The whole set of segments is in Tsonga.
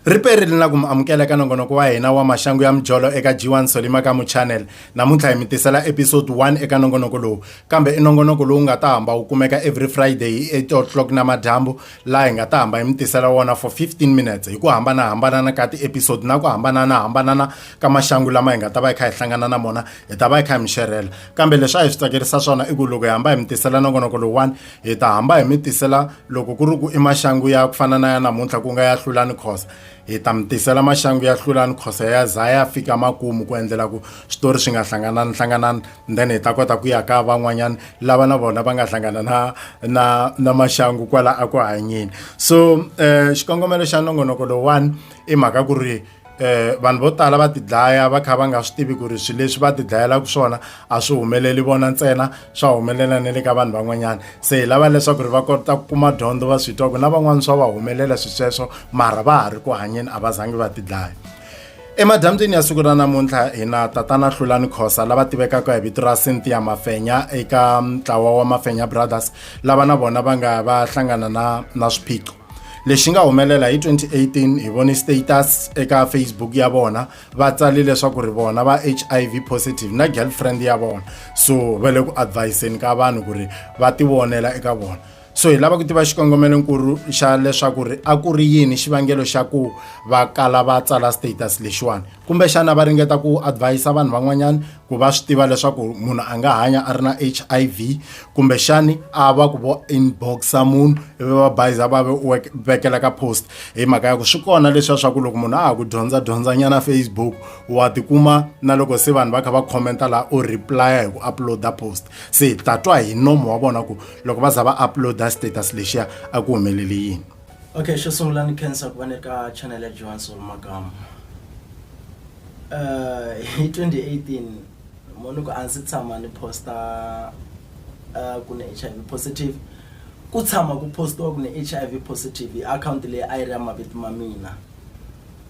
riperile na ku mi amukela eka nongonoko wa hina wa maxangu ya mijolo eka g1 solima ka muchannel namuntlha hi mi tisela episode 1 eka nongonoko lowu kambe i nongonoko lowu nga ta hamba wu kumeka every friday hi 8 o'clock namadyambu laha hi nga ta hamba hi mi tisela wona for 15 minutes hi ku hambanahambanana ka tiepisode na ku hambananahambanana ka maxangu lama hi nga ta va hi kha hi hlangana na mona hi ta va hi kha hi mi xerhela kambe leswi a hi swi tsakerisa swona i ku loko hi hamba hi mi tisela nongonoko lowuwani hi ta hamba hi mi tisela loko ku ri ku i maxangu ya ku fana na ya namuntlha ku nga ya hlulani khosa hi ta mi tisela maxangu ya hlulani khosa ya za ya fika makumu ku endlela ku switori swi nga hlanganani hlanganani then hi ta kota ku ya ka van'wanyana lava na vona va nga hlangana na na na maxangu kwala a ku hanyeni so um xikongomelo xa nongonoko lowuwani i mhaka ku ri eh vanhu vo tala va tidlaya va kha va nga swi tivi ku ri swilo leswi va tidlayelaka swona a swi humeleli vona ntsena swa humelela na le ka vanhu van'wanyana se hi lava leswaku ri va kota ku kuma dyondzo va swi twa ku na van'wani swa va humelela swi sweswo mara va ha ri ku hanyeni a va zangi va tidlaya emadyambyini ya siku ra namuntlha hi na tatana hlulani khosa lava tivekaka hi vito ra cynthia mafenya eka ntlawa wa mafenya brothers lava na vona va nga va hlangana na na swiphiqo lexi nga humelela hi 2018 hi vone status eka facebook ya vona va tsale leswaku ri vona va hiv positive na girlfriend ya vona so va le ku adviseni ka vanhu ku ri va tivonela eka vona so hi lava ku tiva xikongomelo nkulu xa leswaku ri a ku ri yini xivangelo xa ku va kala va tsala status lexiwani kumbexana va ringeta ku advise vanhu van'wanyana ku va swi tiva leswaku munhu a nga hanya a ri na h i v kumbexani a va ku vo inboxa munhu ivi va bayiza va vekela ka post hi mhaka ya ku swi kona leswiya swa ku loko munhu a ha ku dyondza dyondzanyana facebook wa tikuma na loko se vanhu va kha va khomenta laha u replya hi ku uploada post se hi ta twa hi nomo wa vona ku loko va za va uploada status lexiya a ku humelele yini Okay, xo sungula ni khensa ku va ni ri ka channel ya Johan Soul Makamu. Uh, hi 2018 moni ku a ndzi tshama ni posta uh, ku ni HIV positive ku tshama ku postiwa ku ni HIV positive hi akhawunti leyi a yi ri ya mavito ma mina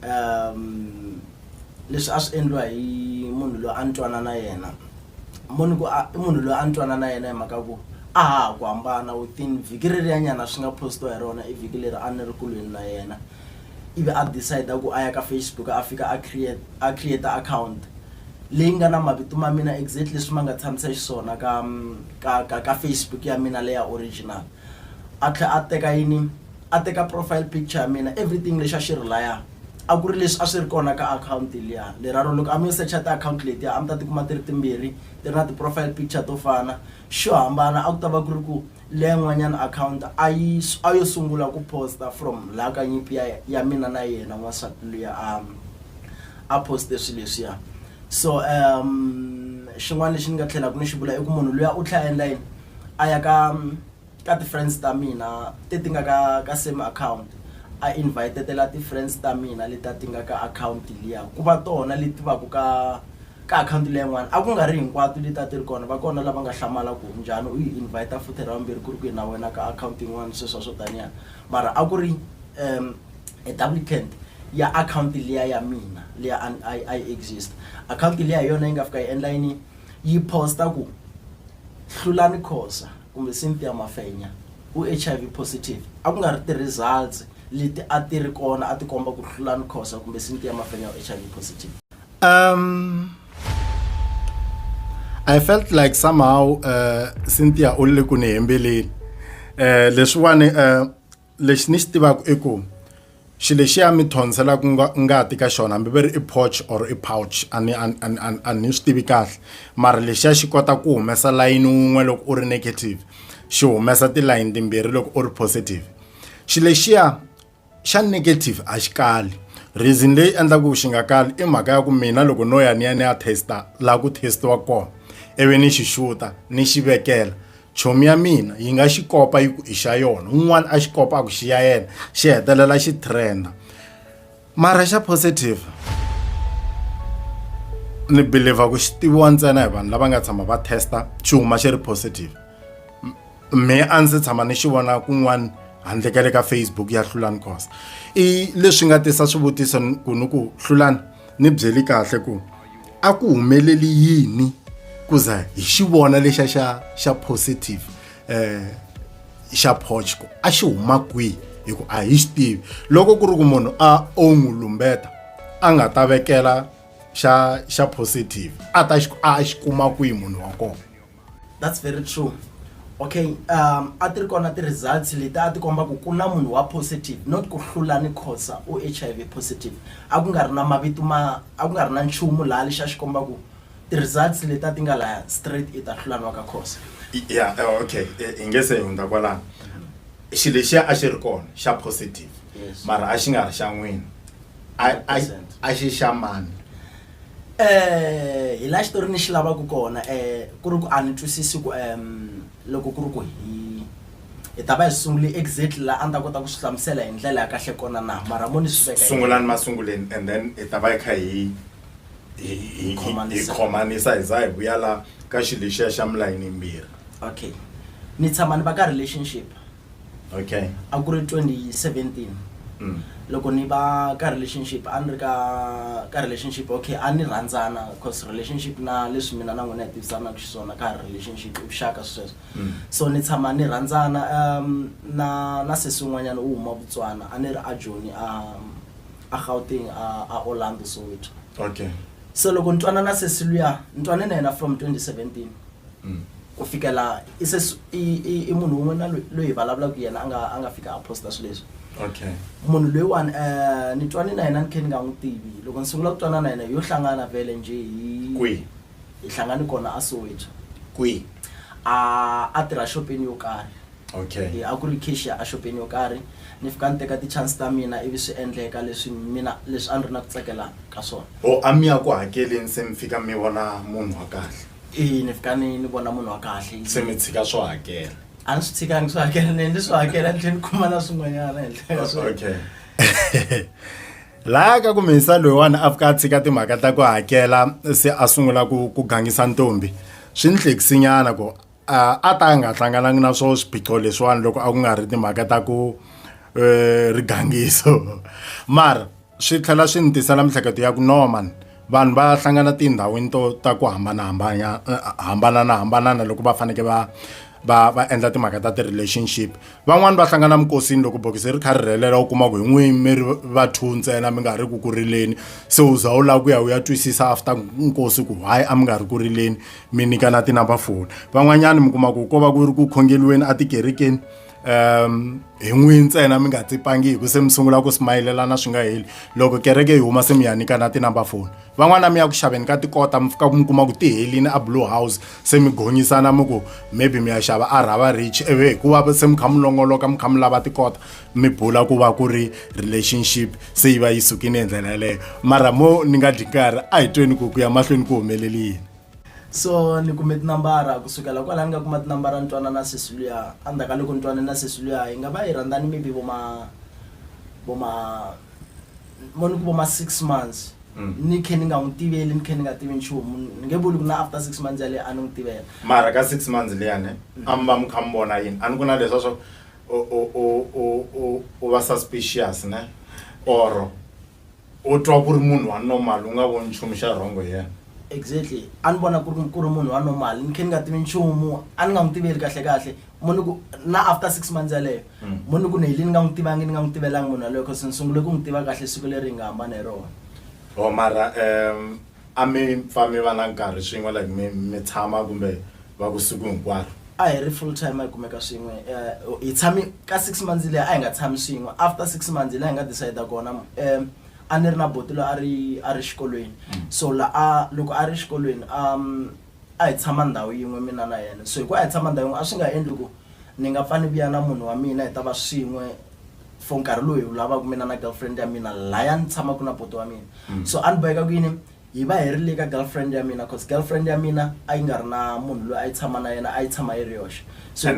um leswi a swi endliwa hi munhu loyi a ni twana na yena mo ni ku a i munhu loyi a ni twana na yena hi mhaka ku a ha ha ku hambana within vhiki reriyanyana swi nga postiwa hi rona i vhiki leri a ni ri kulweni na yena ivi a decide ku a ya ka Facebook a fika a create a create account leyi nga na mavito ma mina exactly leswi ma nga tshamisa xiswona ka ka ka ka Facebook ya mina leya original a tlhe a teka yini. a teka profile picture ya mina everything lexa xi ri laya a ku ri leswi a swi ri kona ka akhawunti liya leraro loko a mi secha tiakhawunti letiya a mi ta tikuma ti ri timbirhi ti ri na ti-profile picture to fana xo hambana a ku ta va ku ri ku leya n'wanyana akhawunti a yi a yo sungula ku posta from laha ka nyimpi ya ya mina na yena n'wansati luya a a poste swilo leswiya so um xin'wana lexi ni nga tlhelaka ni xi vula i ku munhu luya u tlhela a endla yini a ya ka ka ti friends ta mina te ti nga ka ka same account a invite-tela ti friends ta mina leti a ti nga ka account liya ku va tona leti va ku ka ka account liya yin'wana a ku nga ri hinkwato leti a ti ri kona va kona lava nga hlamala ku njhani u yi invite futhi ra vumbirhi ku ri ku yi na wena ka account yin'wana sweswo swo taniya mara a ku ri um a duplicant ya account liya ya mina liya a a a yi exist account liya hi yona yi nga fika yi endla yini yi post-a ku Hlulani Khosa kumbe Cynthia Mafenya, u HIV positive, a ku nga ri ti results leti a ti ri kona a ti komba ku Hlulani Khosa kumbe Cynthia Mafenya u HIV positive. Um, I felt like somehow uh, Cynthia u le ku ni hembeleni uh, leswiwani uh, lexi ni xi tivaka i ku xi lexiya mi thonsilaku nga ngati ka xona hambi va ri i porch or i pouch a ni a ni a ni a ni a ni swi tivi kahle mara lexiya xi kota ku humesa layini wun'we loko u ri negative xi humesa tilayini timbirhi loko u ri positive xi lexiya xa negative a xi kali reason leyi endlaku xi nga kali i mhaka ya ku mina loko no ya ni ya ni ya test la ku test-iwa kona ivi ni xi xuta ni xi vekela. chomi ya mina yi nga xi kopa yi ku i xa yona un'wana a xi kopa a ku xi ya yena xi hetelela xi trenda mara xa positive ni believer ku xi tiviwa ntsena hi vanhu lava nga tshama va testa xi huma xi ri positive me a ndzi tshama ni xi vona kun'wana handle ka le ka facebook ya hlulani cost i leswi nga tisa swivutiso ku ni ku hlulani ni byeli kahle ku a ku humeleli yini ku za hi xi vona lexa xa xa positive eh xa phochko a xi huma kwihi hi ku a hi xi tivi loko ku ri ku munhu a o n'wi lumbeta a nga ta vekela xa xa positive a ta xi a xi kuma kwihi munhu wa kona That's very true okay um a ti ri kona ti-results leti a ti komba ku ku na munhu wa positive not ku hlula ni khosa u h i v positive a ku nga ri na mavito ma a ku nga ri na nchumu laha lexi a xi komba ku ti-results leti a ti nga laya straight i ta hlulaniwa ka khosa ya eh, okay eh, i nge se hundza kwalano xi lexiya a xi ri kona xa positive Yes. mara a xi nga ri xa n'wina A- a- 100%. a xi xa mani hi laha xitori ni xi lavaka kona ku ri ku a ni twisisi ku loko ku ri ku hi hi ta va hi sungule exactly laha a ni ta kota ku swi hlamusela hi ndlela ya kahle kona na mara mo ni swi veka sungulani masunguleni and then hi ta va hi kha hi hi hi hi Khomanisa. khomanisa hi za hi vuya la ka xilo lexiya xa milayini yimbirhi okay ni tshama ni va ka relationship okay a ku ri 2017 mm. loko ni va ka relationship a ni ri ka ka relationship okay a ni rhandzana cause relationship na leswi mina na n'wina hi tivisanaka xiswona ka relationship i vuxaka sweswo mm. so ni tshama ni rhandzana um na na sesi un'wanyana u huma vutswana a ni ri a joni a a gauteng a a orlando soweto okay so loko ni twanana sesi luya ni twane na yena from 2017 mm. ku fikela i se i munhu un'we na loyi vulavulaka yena a nga a nga fika a posta swilo leswi okay munhu loyiwani um ni twane na yena ni khe ni nga n'wi tivi loko ni sungula ku twana na yena yo hlangana vele njhe hi kwihi hi hlangane kona a soweto kwihi a a tirha xopeni yo karhi okay a ku ri cashier a xopeni yo karhi ni fika ni teka ti-chance ta mina ivi swi endleka leswi mina leswi a ni ri na ku tsakela ka swona o a mi ya ku hakeleni se mi fika mi vona munhu wa kahle eya ni fika ni ni vona munhu wa kahle se mi tshika swo hakela a ni swi tshikangi swo hakela ni ni swi hakela ni tlhela ni kuma na swin'wanyana henhla ka sweswo. okay laya ka ku mihisa loyiwani a fika a tshika timhaka ta ku hakela se a sungula ku ku gangisa ntombi swi ni hlekisinyana ku a a ta a nga hlanganangi na swo swiphiqo leswiwani loko a ku nga ri timhaka ta ku um rigangiso mara swi tlhela swi ni tisela miehleketo ya ku norman vanhu va hlangana tindhawini to ta ku hambanahambana eh, hambananahambanana loko va faneke va va va endla timhaka ta ti-relationship van'wani va hlangana minkosini loko bokisi ri kha ri rhelela u kuma ku hi n'wini mi ri va two ntsena mi nga ri ku ku rileni se u za u lava ku ya u ya twisisa after nkosi ku why a mi nga ri ku rileni mi nyikana ti-number phone van'wanyani mi kuma ku ko va ku ri ku khongeliweni etikerekeni um hi n'wi ntsena mi nga tsipangi hi ku se mi sungula ku smayilelana swi nga heli loko kereke yi huma se mi ya nyikana tinumber foni van'wana mi ya ku xaveni ka tikota mi fika mi kuma ku ti helini a blue house se mi gonyisana mi ku maybe mi ya xava a rhava rich ivi hikuva se mi kha mi longoloka mi kha mi lava tikota mi bula ku va ku ri relationship se yi va yi sukile hi ndlela yeleyo mara mo ni nga dyi nkarhi a hi tweni ku ku ya mahlweni ku humeleli yini so ni kume tinambara ku sukela kwalaho ni nga kuma tinambara ni twana na sesi luya endzhaku ka loko ni twane na sesi luya hi nga va hi rhandzani maybe vo ma vo ma mo ni ku vo ma six months Mm. ni khe ni nga n'wi tiveli ni khe ni nga tivi nchumu ni nge vuli ku na after six months yaleyo a ni n'wi tivela mara ka six months liyani a mi va mi kha mi vona yini a ni ku na leswa swa u- u- u- u- u- u va suspicious ne or U twa ku ri munhu wa normal u nga voni nchumu xa wrong hi yena? Exactly. A ni vona ku ri ku ri munhu wa normal ni khe ni nga tivi nchumu, a ni nga n'wi tiveli kahlekahle mo ni ku na after six months yaleyo mo ni ku ni helini ni nga n'wi tivangi ni nga n'wi tivelanga munhu yaloye coz ni sungule ku n'wi tiva kahle siku leri hi nga hambana hi rona. Mara A mi pfa mi va na nkarhi swin'we like mi mi tshama kumbe va ku siku hinkwaro? A hi ri full time hi kumeka swin'we um hi tshame ka six months leyi a hi nga tshami swin'we after six months hi laha hi nga decide kona um a ni ri na buti loyi a ri a ri xikolweni so la a loko a ri xikolweni a a hi tshama ndhawu yin'we mina na yena so hi ku a hi tshama ndhawu yin'we a swi nga endli ku ni nga pfa ni vuya na munhu wa mina hi ta va swin'we for nkarhi lowu hi wu lavaka mina na girlfriend ya mina laya ni tshamaka na poto wa mina mm. so a ni boheka ku yini hi va hi ri le ka girlfriend ya mina cause girlfriend ya mina a yi nga ri na munhu loyi a yi tshama na yena a yi tshama yi ri yoxe so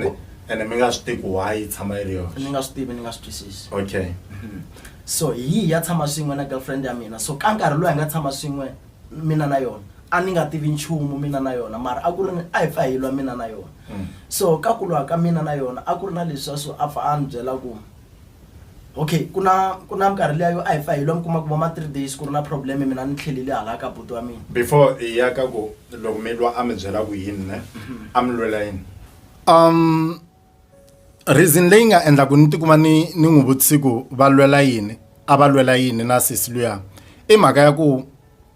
ene mi nga swi tivi ku why yi tshama yi ri yoxe ni nga swi tivi ni nga swi twisisi okay mm-hmm. so hi yi ya tshama swin'we na girlfriend ya mina so ka nkarhi lowu hi nga tshama swin'we mina na yona a ni nga tivi nchumu mina na yona mara a ku ri ni a hi pfa hi lwa mina na yona mm. so ka ku lwa ka mina na yona a ku ri na leswa so a pfa a ni byela ku okay ku na ku na minkarhi leya yo a hi pfa hi lwa mi kuma ku va ma three days ku ri na problem mina ni tlhelile hala ka buti wa mina before hi ya ka ku loko mi lwa a mi byela ku yini ne mhm. a mi lwela yini um reason leyi nga endla ku ni tikuma ni ni n'wi vutisi ku va lwela yini a va lwela yini na sesi luya i mhaka ya ku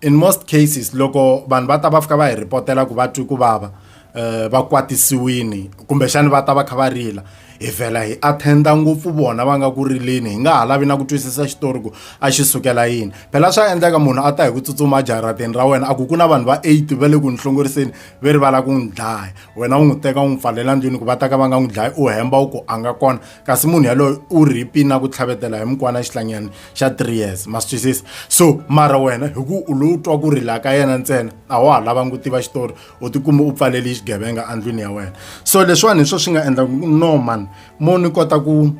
in most cases loko vanhu va ta va fika va hi ripotela ku va twi ku vava um va kwatisiwini kumbexani va ta va kha va rila hi vhela hi attenda ngopfu vona va nga ku rileni hi nga ha lavi na ku twisisa xitori ku a xi sukela yini phela swa endleka munhu a ta hi ku tsutsuma jarateni ra wena a ku ku na vanhu va eight va le ku ni hlongoriseni ve rivala ku n'wi dlaya wena u n'wi teka u n'wi pfalela ndlwini ku va ta ka va nga n'wi dlayi u hemba u ku a nga kona kasi munhu yaloyo u rhipi na ku tlhavetela hi mukwana xihlangani xa three years ma swi twisisa so mara wena hi ku u lowu twa ku rila ka yena ntsena a wa ha lavangi ku tiva xitori u tikuma u pfaleli xigevenga endlwini ya wena so leswiwani hi swo swi nga endla ku no man mo ni kota ku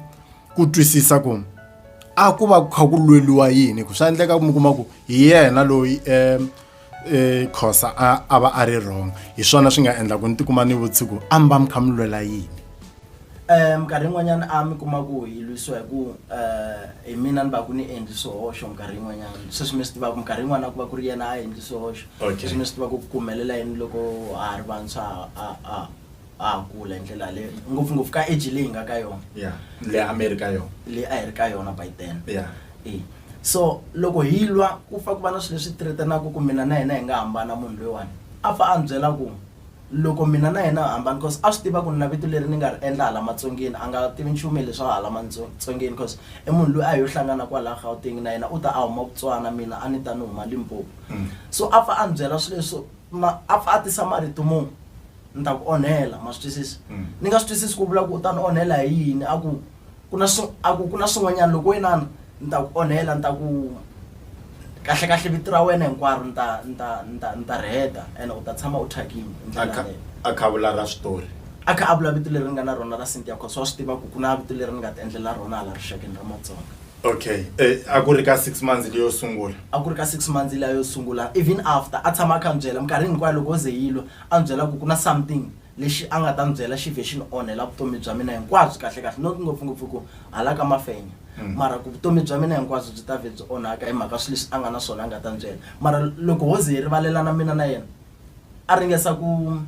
ku twisisa ku a ku va ku kha ku lweliwa yini ku swa endleka mi kuma ku hi yena loyi um eh khosa a a va a ri wrong hi swona swi nga endla ku ni tikuma ni vutsiku a mi va mi kha mi lwela yini um minkarhi yin'wanyana a mi kuma ku hi lwisiwa hi ku um hi mina ni va ku ni endli swihoxo minkarhi yin'wanyana sweswi mi swi tivaka minkarhi yin'wana ku va ku ri yena a endli swihoxo Okay. sweswi mi swi tiva ku ku humelela yini loko ha ha ri vantshwa a a a ha kula hi ndlela yaleyo ngopfungopfu ka age leyi nga ka yona ya le a mi ri ka yona leyi a hi ri ka yona by then ya e so loko hi lwa ku fa ku va na swilo leswi threatenaka ku mina na yena hi nga hambana munhu loyiwani a fa a ni byela ku loko mina na yena hi hambana cause a swi tiva ku ni na vito leri ni nga ri endla hala matsongeni a nga tivi nchumu hi leswa hala matsongeni cause i munhu loyi a hi yo hlangana kwalaha gauteng na yena u ta a huma vutswana mina a ni ta ni huma limpopo Mm. so a fa a ni byela swilo leswo ma a fa a tisa marito munhu ni ta ku onhela ma swi twisisa mm. ni nga swi twisisi ku vula ku u ta ni onhela hi yini a ku ku na a ku ku na swin'wanyana loko wenana ni ta ku onhela ni ta ku kahle kahle vito ra wena hinkwaro ni ta ni ta ni ta ni ta ri heta ene u ta tshama u thyakile hi ndlela yaleyo a kha vula ra switori a kha a vula vito leri nga na rona ra sintia cause wa swi tiva ku ku na vito leri ni nga ti endlela rona hala rixakeni ra matsonga okay eh, a ku ri ka six months leyo sungula a ku ri ka six months leyo sungula even after a tshama a kha ni byela minkarhi hinkwayo loko o ze yilo a n'wi byela ku ku na something lexi a nga ta n'wi byela xi vhe xi ni onhela vutomi bya mina hinkwabyo kahlekahle not ngopfungopfu ku hala ka mafenya hmm. mara ku vutomi bya mina hinkwabyo byi ta vhe byi onhaka hi mhaka swilo leswi a nga na swona a nga ta n'wi byela mara loko ho ze hi rivalelana mina na yena a ringesa ku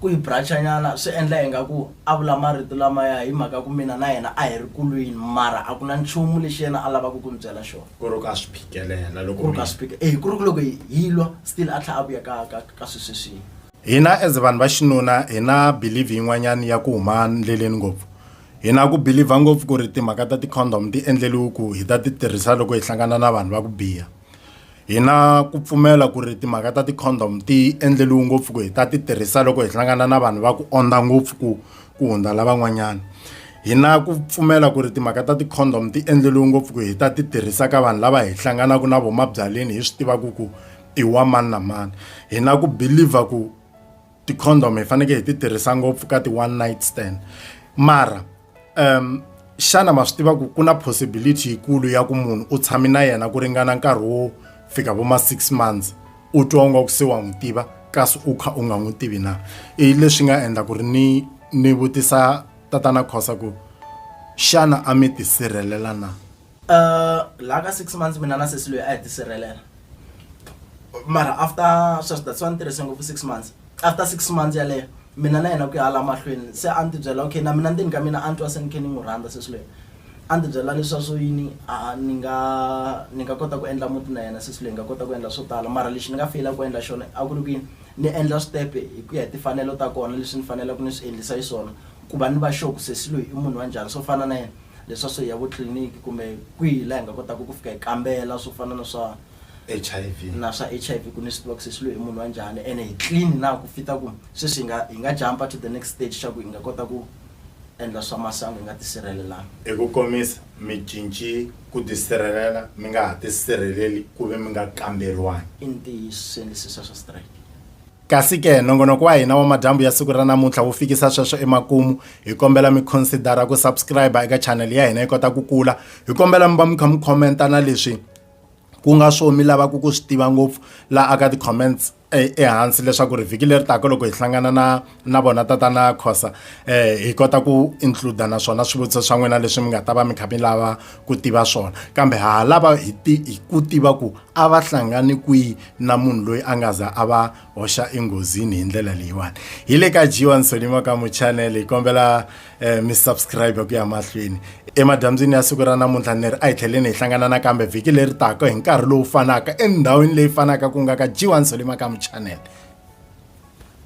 ku yi brachanyana swi endla hi nga ku a vula marito lamaya hi mhaka ku mina na yena a hi ri kulwini mara a ku na nchumu lexi yena a lavaka ku n'wi byela xona ku ri ka swi phikelela loko ku ri ka swi phikelela eh ku ri loko hi lwa still a tlha a vuya ka ka ka swi sweswi hina as vanhu va xinuna hina believe yin'wanyana ya ku huma ndleleni ngopfu hina ku believer ngopfu ku ri timhaka ta ti-condom ti endleliwe ku hi ta ti tirhisa loko hi hlangana na vanhu va ku biha hina ku pfumela ku ri timhaka ta ti-condom ti endleliwe ngopfu ku hi ta ti tirhisa loko hi hlangana na vanhu va ku ondza ngopfu ku ku hundza lavan'wanyana hi na ku pfumela ku ri timhaka ta ti-condom ti endleriwe ngopfu ku hi ta ti tirhisaka vanhu lava hi hlanganaka na vomabyaleni hi swi tivaka ku i wa mani na mani hi na ku believer ku ti-condom hi fanekele hi ti tirhisa ngopfu ka ti-one night stand mara um xana ma swi tiva ku ku na possibility yikulu ya ku munhu u tshame na yena ku ringana nkarhi wo fika vo ma six months u twa nga ku se wa n'wi tiva kasi u kha u nga n'wi tivi na i leswi nga endla ku ri ni ni vutisa tatana khosa ku xana a mi tisirhelela na uh laha ka six months mina na sesi loyi a hi tisirhelela mara after sweswi that's why ni tirhise ngopfu six months after six months yaleyo mina na yena ku ya hala mahlweni se a ni tibyela okay na mina ndzeni ka mina a ni twa se ni khe ni n'wi rhandza sesi loyi a ndzi byela leswaku yini a ni nga ni nga kota ku endla muti na yena sesi loyi hi nga kota ku endla swo tala mara lexi ni nga feyila ku endla xona a ku ri ku yini ni endla switepe hi ku ya hi timfanelo ta kona leswi ni faneleke ni swi endlisa xiswona ku va ni va sure ku sesi loyi i munhu wa njhani swo fana na yena leswa swo ya vo tliliniki kumbe kwihi laha hi nga kotaka ku fika hi kambela swo fana na swa H_I_V na swa H_I_V ku ni swi tiva ku sesi loyi i munhu wa njhani ene hi clean na ku fita ku sweswi hi nga hi nga jump-a to the next stage xa ku hi nga kota ku endla swa masangu hi nga tisirhelelanga? Hi ku komisa, mi cince ku tisirhelela mi nga ha tisirheleli ku ve mi nga kamberiwangi. I ntiyiso, swi endlisisa swa strike. Kasi-ke, nongonoko wa hina wa madyambu ya siku ra namuntlha wu fikisa sweswo emakumu. Hi kombela mi khonsidara ku subscriber eka chanele ya hina yi kota ku kula. Hi kombela mi va mi kha mi khomenta na leswi ku nga swo mi lavaka ku swi tiva ngopfu laha aka ti-comments. e, ehansi leswaku ri vhiki leri taka loko hi hlangana na na vona tatana khosa um hi kota ku includa na swona swivutiso swa n'wina leswi mi nga ta va mi kha mi lava ku tiva swona kambe ha lava hi hi ku tiva ku a va hlangani kwihi na munhu loyi a nga za a va hoxa enghozini hi ndlela leyiwani hi le ka jiwa nsoni makamu channel hi kombela um mi subscribe ku ya mahlweni emadyambyini ya siku ra namuntlha ni ri a hi tlheleni hi hlangana nakambe vhiki leri taka hi nkarhi lowu fanaka endhawini leyi fanaka ku nga ka g1 solimakamu channel